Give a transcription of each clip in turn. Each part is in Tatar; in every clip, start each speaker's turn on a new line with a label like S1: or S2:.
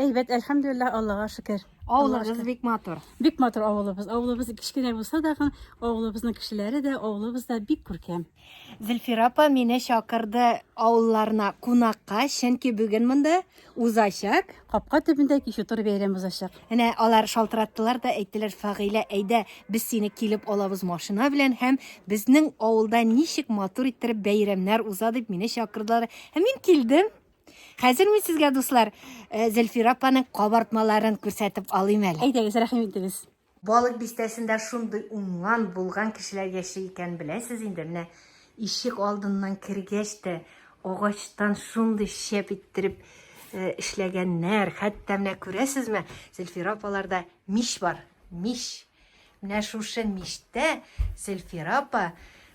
S1: Әйбәт, әлхәмдүлилләһ,
S2: Аллага шөкер. Авылыбыз бик
S1: матур. Бик матур авылыбыз.
S2: Авылыбыз кечкенә булса да, авылыбызның кешеләре дә, авылыбыз да бик күркәм. Зөлфира апа
S1: мине чакырды авылларына кунакка, чөнки бүген монда узачак. Капка төбендә
S2: кичү тур бәйрәм узачак. Әнә алар
S1: шалтыраттылар да әйттеләр, Фагыйлә, әйдә, без сине килеп алабыз машина белән һәм безнең авылда ничек матур иттереп бәйрәмнәр уза дип мине чакырдылар. Һәм мин килдем. Хәзер мин сезгә, дуслар, э, Зөлфира апаның кабартмаларын күрсәтеп алыйм әле. Әйдәгез, рәхим итегез.
S2: Балык бистәсендә
S1: шундый уңган, булган кешеләр яши икән, беләсез инде, менә ишек алдыннан кергәч тә агачтан шундый шәп иттереп э, эшләгәннәр. Хәтта менә күрәсезме, Зөлфира апаларда мич бар. Мич. Менә шушы мичтә Зөлфира апа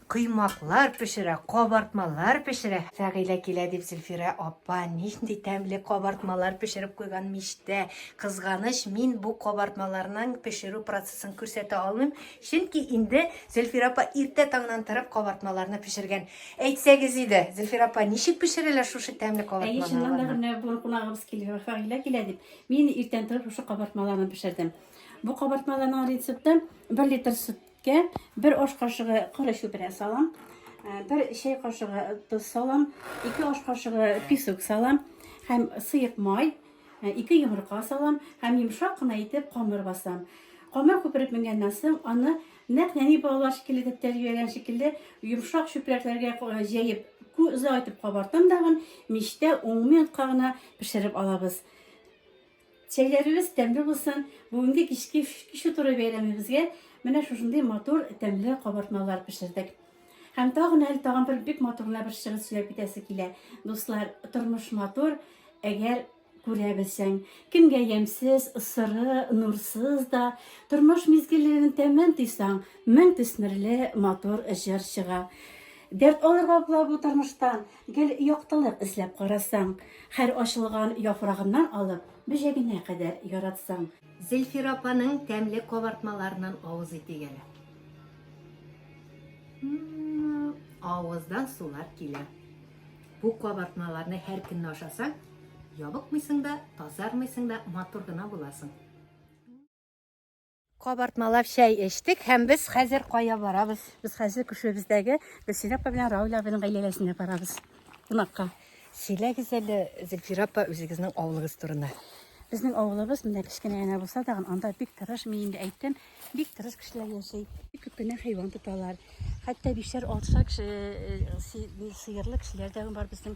S1: коймаклар пешерә, кабартмалар пешерә. Фәгыйлә килә дип Зөлфирә апа нинди тәмле кабартмалар пешереп куйган мичтә. Кызганыч, мин бу кабартмаларның пешерү процессын күрсәтә алмыйм, чөнки инде Зөлфирә апа иртә таңнан торып кабартмаларны пешергән. Әйтсәгез иде, Зөлфирә апа, ничек пешерәләр шушы тәмле кабартмаларны? Әйе, чыннан да менә
S2: бу кунагыбыз
S1: килгән,
S2: Фәгыйлә килә дип, мин иртән торып шушы кабартмаларны пешердем. Бу кабартмаларның рецепты 1 литр сөткә 1 аш кашыгы коры чүпрә салам, 1 э, чәй кашыгы тоз салам, 2 аш кашыгы песок салам һәм сыек май, 2 э, йомырка салам һәм йомшак кына итеп камыр басам. Камыр күпереп менгәннән соң аны нәкъ нәни балалар шикелле дип тәрбияләгән шикелле йомшак чүпрәкләргә э, җәеп күзә итеп кабартам дагын мичтә 10 минутка гына пешереп алабыз. Чәйләрегез тәмле булсын! Бүгенге кичке кичке туры бәйрәмебезгә менә шушындый матур тәмле кабартмалар пешердек. Һәм тагын әле тагын бер бик матур гына бер чыгыш сөйләп китәсе килә. Дуслар, тормыш матур, әгәр күрә белсәң. Кемгә ямьсез, сыры, нурсыз да, тормыш мизгелләрен тәмен тыйсаң, мең төсмерле матур җыр чыга. Дәрт алырга була бу тормыштан, Гел яктылык эзләп карасаң. Һәр ачылган яфрагыннан алып, бөҗәгенә кадәр яратсаң. Зилфира апаның
S1: тәмле кабартмаларыннан авыз итик әле. Авыздан сулар килә. Бу кабартмаларны һәр көнне ашасаң, ябыкмыйсың да, тазармыйсың да, матур гына буласың. Кабартмалап чәй эчтек һәм без хәзер кая барабыз? Без хәзер күршебездәге
S2: Гөлсинә апа белән Рауль абының гаиләсенә барабыз. Кунакка. Сөйләгез
S1: әле, Зөлфирә апа, үзегезнең авылыгыз турында. Безнең авылыбыз
S2: менә кечкенә генә булса да, анда бик тырыш, мин инде әйттем, бик тырыш кешеләр яши. Бик күп кенә хайван тоталар. Хәтта бишәр, алтышар кеше, э, э, си- сыерлы кешеләр дә бар безнең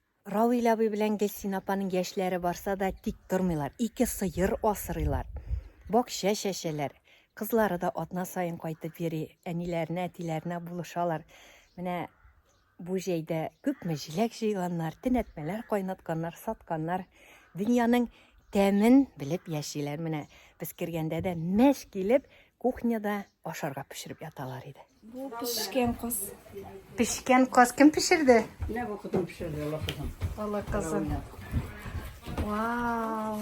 S3: Равил абый
S1: белән Гөлсин апаның яшьләре барса да тик тормыйлар. Ике сыер асырыйлар. Бакча чәчәләр. Кызлары да атна саен кайтып йөри, әниләренә, әтиләренә булышалар. Менә бу җәйдә күпме җиләк җыйганнар, төнәтмәләр кайнатканнар, сатканнар. Дөньяның тәмен белеп яшиләр. Менә без кергәндә дә мәш килеп, кухняда ашарга пешереп яталар иде. Бу пешкән
S4: каз. Пешкән
S1: каз кем пешерде? Менә бу кызым
S3: пешерде, Алла кызым. Алла
S1: кызым. Вау.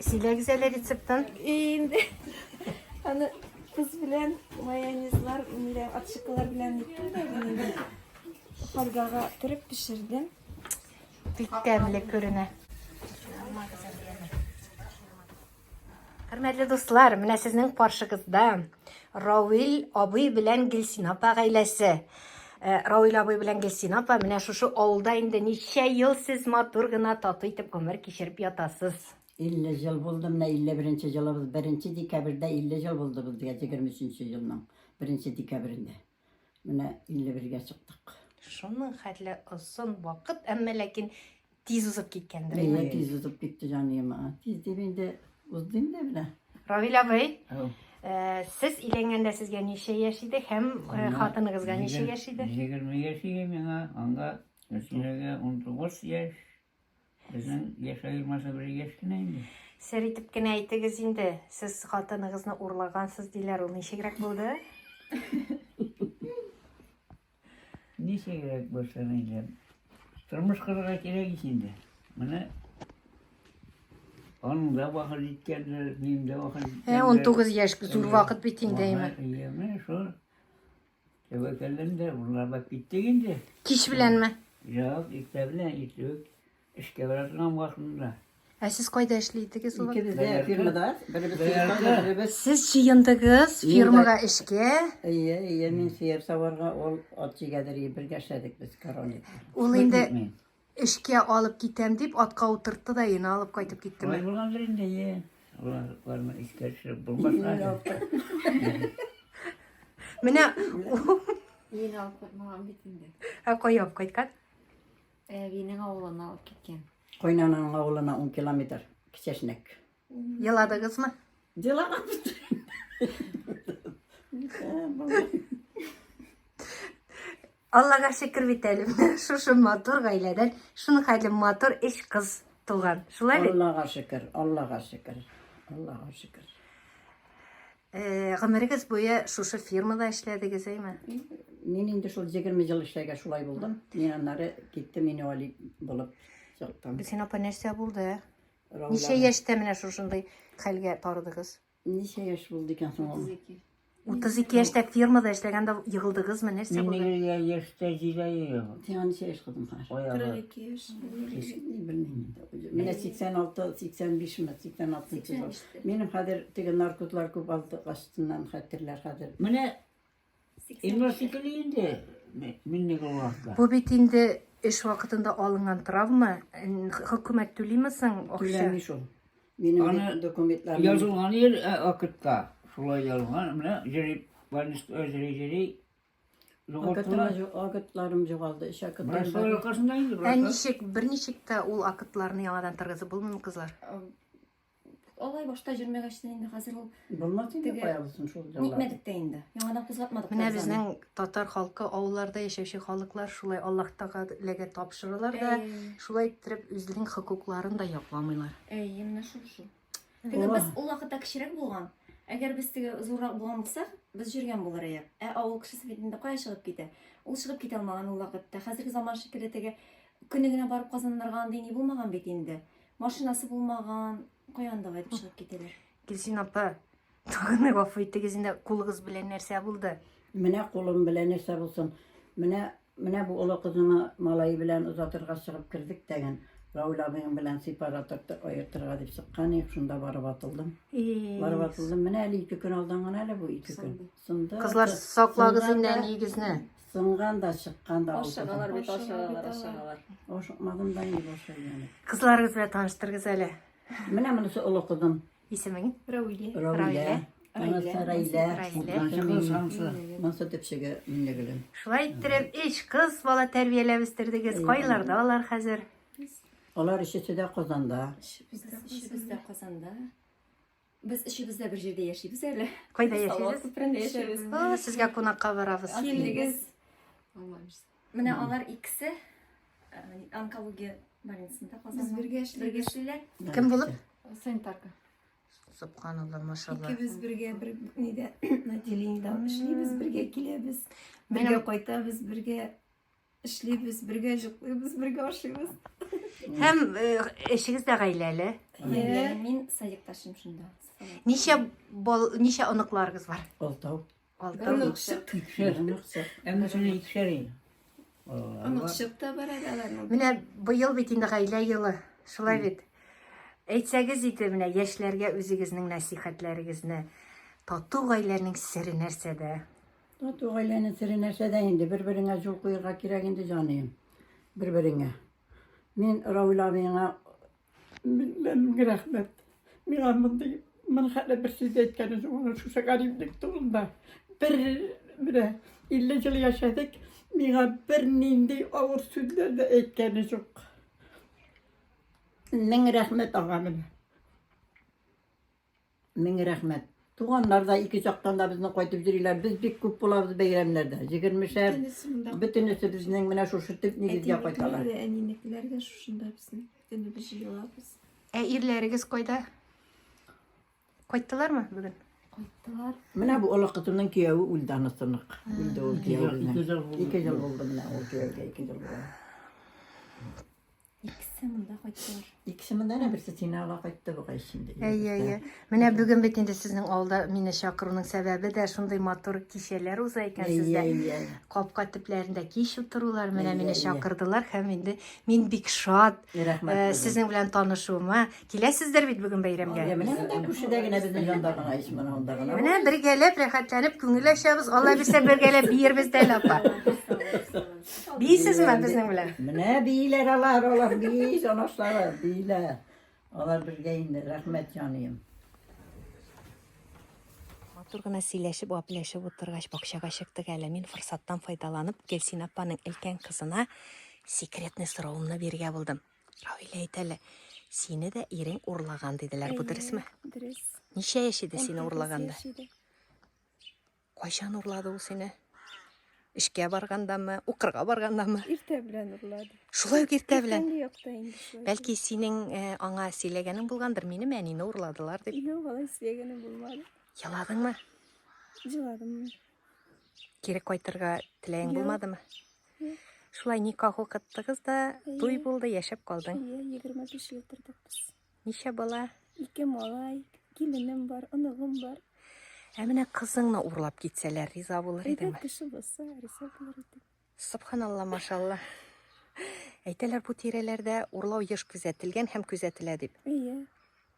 S1: Сөйләгез әле рецептын. Инде.
S4: Аны кыз белән майонезлар, ниләр, атшыкалар белән иттем дә инде. Фольгага төреп пешердем. Бик
S1: тәмле күренә. Хөрмәтле дуслар, менә сезнең каршыгызда Равил абый белән Гелсин апа гаиләсе. Э, Равил абый белән Гелсин апа, менә шушы авылда инде ничә ел сез матур гына тату итеп гомер кичереп ятасыз. 50 жыл
S3: булды, менә 51 җылыбыз 1 декабрьдә 50 жыл булды безгә 23 елның 1 декабрендә. Менә
S1: 51-гә
S3: чыктык.
S1: Шуның
S3: хәтле
S1: озын вакыт, әмма
S3: ләкин
S1: тиз узып киткәндер. Әйе, тиз узып китте
S3: җаныем. Тиз дип инде узды инде менә. Равил абый,
S1: э,
S5: сез
S1: өйләнгәндә сезгә ничә яшь иде һәм э, хатыныгызга ничә яшь иде? 20 яшь иде
S5: миңа, анда Рәсиләгә 19 яшь, Сезнең яшь аермасы бер яшь кенә инде. Сер итеп кенә
S1: әйтегез инде. Сез хатыныгызны урлагансыз диләр, ул ничегрәк булды?
S5: Ничегрәк булса инде. Тормыш кырырга кирәк ич инде. Менә аның да вафат иткәннәр, минем дә вафат иткәннәр. Ә 19 яшь зур
S1: вакыт бит инде, әйме. Әйме, шул.
S5: Тәвәкәлләнде, урлап киттек инде. Кич беләнме?
S1: Юк, иртә
S5: белән иртүк эшкә бара торган вакытында. Ә сез кайда
S1: эшли идегез ул вакытта? Икебез дә фирмада,
S3: беребез фирмада, беребез.
S5: Сез
S3: җыендыгыз
S1: фирмага эшкә. Әйе, әйе, мин
S3: сыер саварга, ул ат җигәдер, бергә эшләдек без король. Ул инде
S1: Эшкә алып китәм дип, атка утыртты да ена алып кайтып киттеме? Алай булгандыр инде,
S5: е. Алар барма эшкә төшереп булмаска.
S1: Менә
S4: Ен алып кайтмаган бит инде. ә кая алып кайткан? Әбинең авылына алып киткән. Кайнаның авылына
S3: 10 километр кичәшнәк. Еладыгыз
S1: мы? Дела Аллага шөкер бит әле. Шушы матур гаиләдән, шуның хәтле матур эш кыз туган. Шулай бит? Аллага шөкер, Аллага
S3: шөкер. Аллага шөкер. Э,
S1: гомерегез буе шушы фирмада эшләдегез, әйме? Мин инде
S3: шул 20 ел эшләгә шулай булдым. Мин аннары киттем, мин вали булып чыктым. Бисен апа нәрсә
S1: булды? Ничә
S3: яшьтә менә
S1: шушындый хәлгә тарыдыгыз? Ничә яшь булды
S3: икән соң ул? 32
S1: яшьтә фермада эшләгәндә егылдыгызмы? Нәрсә Мин булды? нигә яшьтә
S5: җиләйем? Сиңа ничә яшь кызым
S3: хәзер? Аягы. 42 яшь. Кеш- ни, Белмим инде. Менә 86, 85 ме, 86 чыга. Минем хәзер теге наркотлар күп алды астыннан хәтерләр хәзер. Менә
S5: Бу бит инде
S1: эш вакытында алынган травма. Хөкүмәт түлиме соң акча? Түләми шул.
S3: Минем документларым.
S5: Язылган
S3: ел
S5: вакытта шулай язылган. Менә җыри, больница җыри җыри.
S3: Акытларым югалды. Эш акытларым. Ә
S5: ничек, берничек
S1: тә ул акытларны яңадан торгызып булмыймы, кызлар?
S4: Алай башта җөрмәгәч тә инде хәзер ул Булмас инде Теге- каябызсын
S3: шул яллар. нитмәдек тә инде. Яңадан
S4: кузгатмадык. Менә тәрәзәне. безнең татар
S1: халкы авылларда яшәүче халыклар шулай Аллаһ Тәгаләгә тапшыралар да, Әй, шулай иттереп үзенең хокукларын да якламыйлар. Әй, менә шул
S4: шул. Теге Була. без ул вакытта кечерәк булган. Әгәр без теге зуррак булган булсак, без җөргән булыр идек. Ә авыл кешесе бит инде кая чыгып китә? Ул чыгып китә алмаган ул вакытта. Хәзерге заман шикелле теге көне генә барып казаннарга андый ни булмаган бит инде. Машинасы булмаган, каяндыга әйтеп чыгып китәләр. Гөлсин апа,
S1: тагын гафу итегез инде, кулыгыз белән нәрсә булды? Менә кулым
S3: белән нәрсә булсын. Менә менә бу олы кызыма малай белән озатырга чыгып кердек тәген. Равил абыйың белән сепараторды аертырга дип чыккан идек, шунда барып атылдым. Барып атылдым. Менә әле ике көн алдан гына әле бу ике көн. Сынды. Кызлар, саклагыз
S1: инде әниегезне.
S3: Сынган
S1: да,
S3: чыккан да. Ашыгалар бит, ашыгалар,
S4: ашыгалар. Ашыкмадым да
S3: инде башы яны. Кызларыгыз белән таныштырыгыз
S1: әле. Менә монысы
S3: олы кызым. Исемең?
S1: Рәүилә. Рәүилә.
S3: Анасы Рәйлә.
S5: Монысы төпчеге
S3: Миннегөлем. Шулай иттереп, эш
S1: кыз бала тәрбияләп үстердегез. Кайларда алар хәзер? Алар
S3: өчесе дә Казанда. Өчесе дә
S4: Казанда. Без өчебез дә бер җирдә яшибез әле. Кайда яшибез?
S1: Күпрәндә яшибез.
S4: Сезгә кунакка
S1: барабыз. Килегез.
S4: Менә алар икесе э, онкология больницасында Казанда. Без бергә эшлиләр. Кем булып?
S1: Санитарка.
S4: Субханалла,
S1: машалла. Икебез бергә бер
S6: нидә отделениедә эшлибез, бергә киләбез, бергә кайтабыз,
S1: бергә
S6: эшлибез, бергә җыклыйбыз, бергә ашыйбыз. Һәм
S1: эшегез дә гаиләле. Мин
S4: садикташым шунда. Ничә
S1: бал, ничә оныкларыгыз бар? Алтау. Алтау.
S3: Оныкчык.
S1: Икешәр
S6: оныкчык.
S5: Әмма шуны икешәр ел. Оныкчык
S6: та бар әле аларның. Менә быел бит
S1: инде гаилә елы. Шулай бит. Әйтсәгез иде менә яшьләргә үзегезнең нәсихәтләрегезне тату гаиләнең сере нәрсәдә? Тату гаиләнең
S3: сере нәрсәдә инде? Бер-береңә җул куярга кирәк инде, җаныем. Бер-береңә. Мин Равил абыеңа меңләп
S7: рәхмәт. Миңа мондый мин хәтта бер сүз әйткәне юк, ана шушы гариплек турында. Бер менә 50 ел яшәдек, миңа бернинди авыр сүзләр дә әйткәне юк.
S3: Мең рәхмәт ага менә. Мең рәхмәт. Туганнар да ике чактан да безне кайтып йөриләр. Без бик күп булабыз бәйрәмнәрдә. Җигермешәр. Бөтенесе безнең менә шушы төп нигезгә кайталар. Әнинекеләр дә
S6: шушында безнең. Бөтенебез җыелабыз. Ә ирләрегез
S1: кайда? Кайттылармы бүген? Кайттылар.
S6: Менә бу олы
S3: кызымның кияүе үлде анысынык. Үлде ул кияү. Ике жыл булды менә ул кияүгә ике жыл булды.
S4: Икесе монда кайттылар. Икесе монда не берсе
S3: синала кайтты бу кайшында. Әйе, әйе. Менә
S1: бүген бит инде сезнең алда мине чакыруның сәбәбе дә шундый матур кичәләр уза икән сездә. Әйе, Капка төпләрендә кич утырулар менә мине чакырдылар һәм инде мин бик шат. Э, сезнең белән танышуыма Киләсездер бит бүген бәйрәмгә. Менә күршедә генә
S3: безнең янда гына ич менә анда гына. Менә бергәләп
S1: рәхәтләнеп күңел ачабыз. Алла бирсә бергәләп биербез дә әле апа. Бийсезме безнең белән? Менә бийләр
S3: алар, алар бии, җанашлары, бийләр. Алар бергә инде, рәхмәт җаныем.
S1: Матур гына сөйләшеп, вапләшеп утыргач, бакчага чыктык әле. Мин форсаттан файдаланып, Гөлсина апаның өлкән кызына секретный соравымны биргә булдым. Равилә әйтә әле, сине дә ирең урлаган диделәр, бу дөресме? Дөрес. Ничә
S6: яшь иде
S1: сине урлаганда? Кайчан урлады ул сине? Эшкә баргандамы, укырга баргандамы? Иртә белән урлады.
S6: Шулай ук иртә
S1: белән.
S6: Бәлки синең э,
S1: аңа сөйләгәнең булгандыр, минем әнине урладылар дип. Юк, алай сөйләгәнем
S6: булмады. Еладыңмы?
S1: Җыладым. Кире кайтырга теләгең булмадымы? Шулай никах укыттыгыз да, туй булды, яшәп калдың. Иә, 25 ел
S6: тордык без. Ничә бала?
S1: Ике малай,
S6: киленем бар, оныгым бар. Ә менә
S1: кызыңны урлап китсәләр, риза булыр Әйдә идеңме? кеше булса, риза
S6: булыр идек. Субханалла,
S1: машалла. Әйтәләр бу тирәләрдә урлау еш күзәтелгән һәм күзәтелә дип. Иә.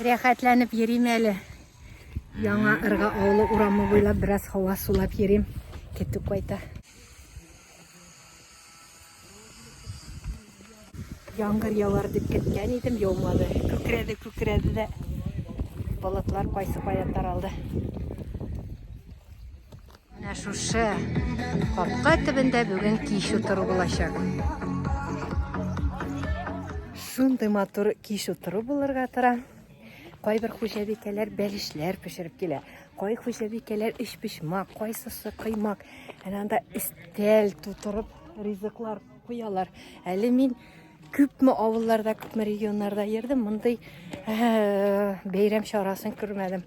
S1: Рәхәтләнеп йөрим әле. Яңа ырга авылы урамы буйлап бераз һава сулап йөрим. Китү кайта. Яңгыр явар дип көткән идем, яумады. Күкрәде, күкрәде дә. Болытлар кайсы кая таралды. Менә шушы капка төбендә бүген кич утыру булачак. Шундый матур кич утыру булырга тора. Кайбер хуҗабикәләр бәлешләр пешереп килә. Кай хуҗабикәләр өч пешмак, кайсысы кыймак. Әнә анда истәл тутырып ризыклар куялар. Әле мин күпме авылларда, күпме регионнарда йөрдем, мондый бәйрәм чарасын күрмәдем.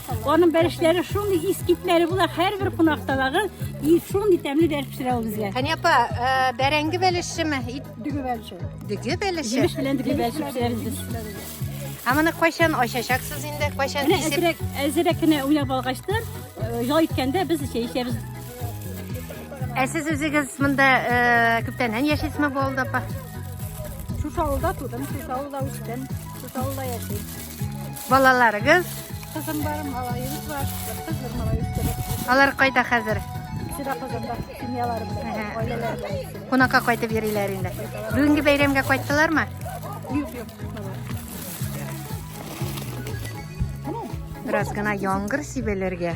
S2: Аның бәрешләре шундый искитләре була, һәрбер кунактадагы и шундый тәмле бәреш пешерә ул безгә. Хәния апа,
S1: э, бәрәңге бәлешеме? Ит Дөге бәлеше.
S2: дөге бәлеше. Җимеш
S1: белән дөге бәреш
S2: пешерәбез без. Ә моны
S1: кайчан ачачаксыз инде? Кайчан Менә кисеп? әзрәк, әзрәк кенә уйнап
S2: алгачтан, э, ял иткәндә без чәй эчәбез.
S1: Ә сез үзегез монда э, күптәннән яшисезме бу авылда апа? Шушы
S2: авылда тудым, шушы авылда үстем, шушы авылда яшим. Балаларыгыз?
S1: Кызым
S2: бар, малаем бар. Кыз бер малаем бар. Алар кайда хәзер?
S1: Сида Казанда
S2: семьялары белән, гаиләләре белән. Кунакка кайтып йөриләр
S1: инде. Бүгенге бәйрәмгә кайттылармы? Юк, юк. Бераз гына яңгыр сибелергә.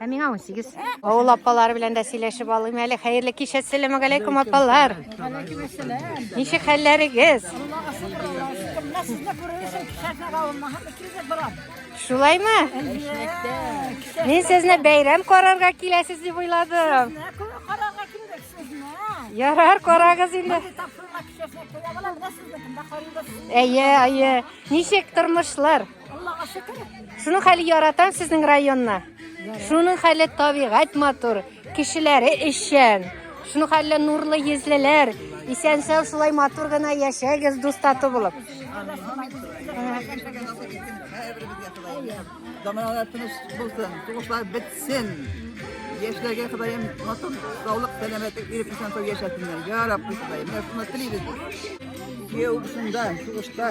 S1: Ә
S7: миңа 18.
S1: Авыл апалары белән дә сөйләшеп алыйм әле. Хәерле кич, әссәламу алейкум апалар. Ничек хәлләрегез? Шулаймы? Мин сезне бәйрәм карарга киләсез дип уйладым. Ярар, карагыз инде. Әйе, әйе. Ничек тормышлар? Аллага шөкер. Шуның хәле яратам сезнең районны. Шуның хәле табигать матур, кешеләре эшчән. Шуның хәле нурлы йөзлеләр. Исән сау шулай матур гына яшәгез дус тату булып.
S3: Заманалар тыныч булсын, тугышлар бетсен. Яшьләргә Ходаем матур саулык, сәламәтлек биреп исән сау яшәсеннәр. Я Раббы Ходаем, менә шуны телибез. Кияү шунда, сугышта.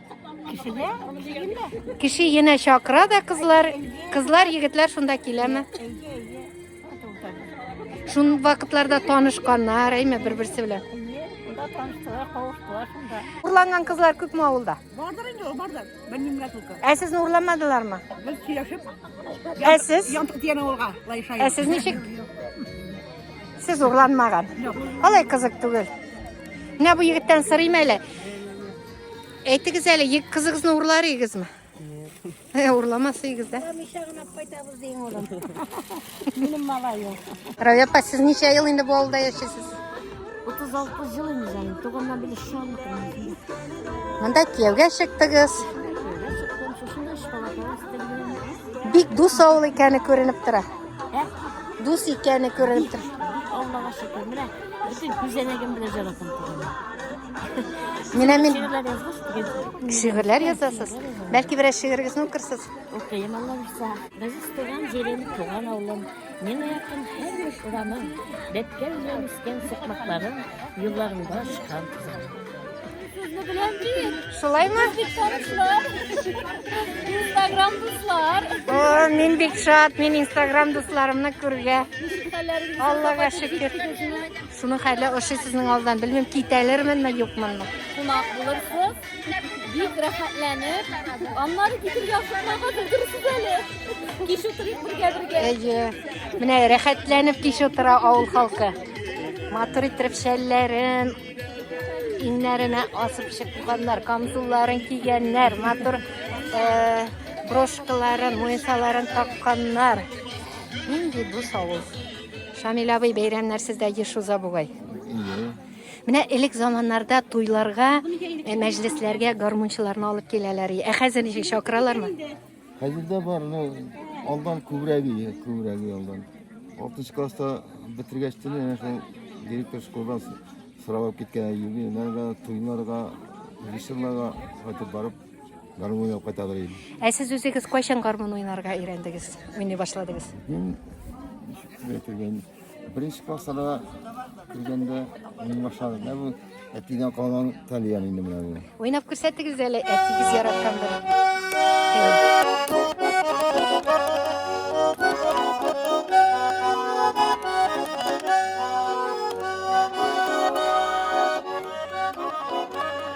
S1: Кешегә, кешегә. Кеше янә чакыра да кызлар. Кызлар, егетләр шунда киләме? Шун вакытларда танышканнар, әйме, бер-берсе белән. Урланган кызлар күпме авылда? Бардыр инде, ул бардыр.
S7: Белмимгә түгел. Ә сезне урламадылармы?
S1: Без сөйләшеп.
S7: Ә сез?
S1: Янтык дигән авылга
S7: лайша. Ә сез ничек?
S1: Сез урланмаган. Алай кызык түгел. Менә бу егеттән сорыйм әле. Әйтегез әле, ек кызыгызны урлар игезме? Э, урламас игез дә. Миша гына кайтабыз дигән улым.
S2: Минем малаем. Равия апа, сез
S1: ничә ел инде бу авылда яшисез? 36
S2: жыл инде җаным. Туганнан били шалмыкмын.
S1: Монда кияүгә чыктыгыз.
S2: Бик дус авыл
S1: икәне күренеп тора. Ә? Дус икәне күренеп тора. Аллага шөкер.
S2: Менә бөтен күзәнәгем белән җаратам. Менә
S1: мин
S2: шигырьләр язасыз.
S1: Бәлки берәр шигырегезне укырсыз? Укыйм, Алла булса.
S2: Без туган җирем, туган авылым, миңа якын һәр урамым, бәткә белән үскән сукмакларым, юлларында чыккан кызым. Шулай ма? Инстаграм дуслар. О, мин бик
S1: шат, мин Инстаграм дусларымны күргә. Аллага шөкер. Шуның хәле ошый сезнең алдан. Белмим, китәлерменме, юкмынмы. Кунак
S2: булырсыз, бик рәхәтләнеп, аннары китергә ашыкмага белдерсез әле. Кич утырыйк бергә-бергә. Әйе.
S1: Менә рәхәтләнеп кич утыра авыл халкы. Матур иттереп шәлләрен, иннәренә асып чыкканнар, камзулларын кигәннәр, матур э, брошкаларын, муенсаларын такканнар. Нинди бу авыл. Шамил абый, бәйрәмнәрсез дә еш уза бугай. Менә элек заманнарда туйларга, э, мәҗлесләргә гармунчыларны алып киләләр. Ә хәзер ничек чакыралармы? Хәзер дә
S8: бар, но алдан күбрәк иде, күбрәк иде алдан. 6 класста бетергәч тә менә шул директор школдан с- сорап алып киткән юбилейларга, туйларга, режиссерларга кайтып барып Гармун уйнап кайтадыр ич. Ә сез үзегез
S1: кайчан гармун уйнарга өйрәндегез? Уйный башладыгыз? Мин бетергән.
S8: Беренче классларда кергәндә уйный башладым. Ә бу әтидән калган тальян инде менә бу. Уйнап күрсәтегез
S1: әле әтигез яраткан бер.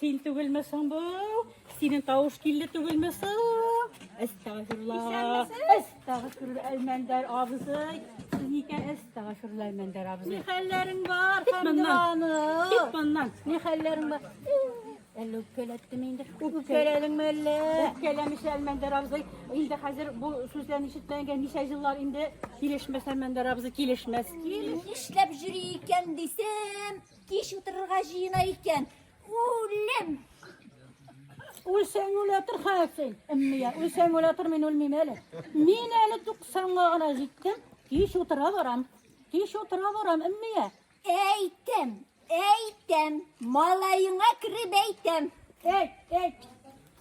S2: Син түгелме соң бу? Синең тавыш килде түгелме соң? Әстәгфирулла. Әстәгфирулла Әлмәндәр абзый. Сез никә әстәгфирулла Әлмәндәр абзый? Ни хәлләрең бар? Кит моннан. Кит моннан. Ни хәлләрең бар? Әллә үпкәләттем инде. Үпкәләдеңме әллә? Үпкәләмеш Әлмәндәр абзый. Инде хәзер бу сүзләрне ишеткәнгә ничә еллар инде килешмәс Әлмәндәр абзый килешмәс. Нишләп
S9: җөри икән дисем, Кич утырырга җыена икән. Үлем!
S2: Үлсәң үлә тор хәсен. Әммия, үлсәң үлә тор, мин үлмим әле. Мин әле 90-га гына җиттем. Кич утыра барам. Кич утыра барам, әммия. Әйтәм,
S9: әйтәм, малаеңа кереп әйтәм. Әйт, әйт.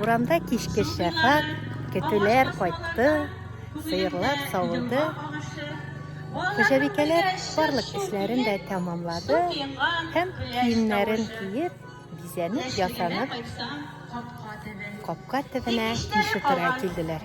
S1: Урамда кичке шәфәк, көтүләр кайтты, сыерлар савылды. Хуҗабикәләр барлык эшләрен дә тәмамлады һәм киемнәрен киеп, бизәнеп, ясанып, капка төбенә кишу тора килделәр.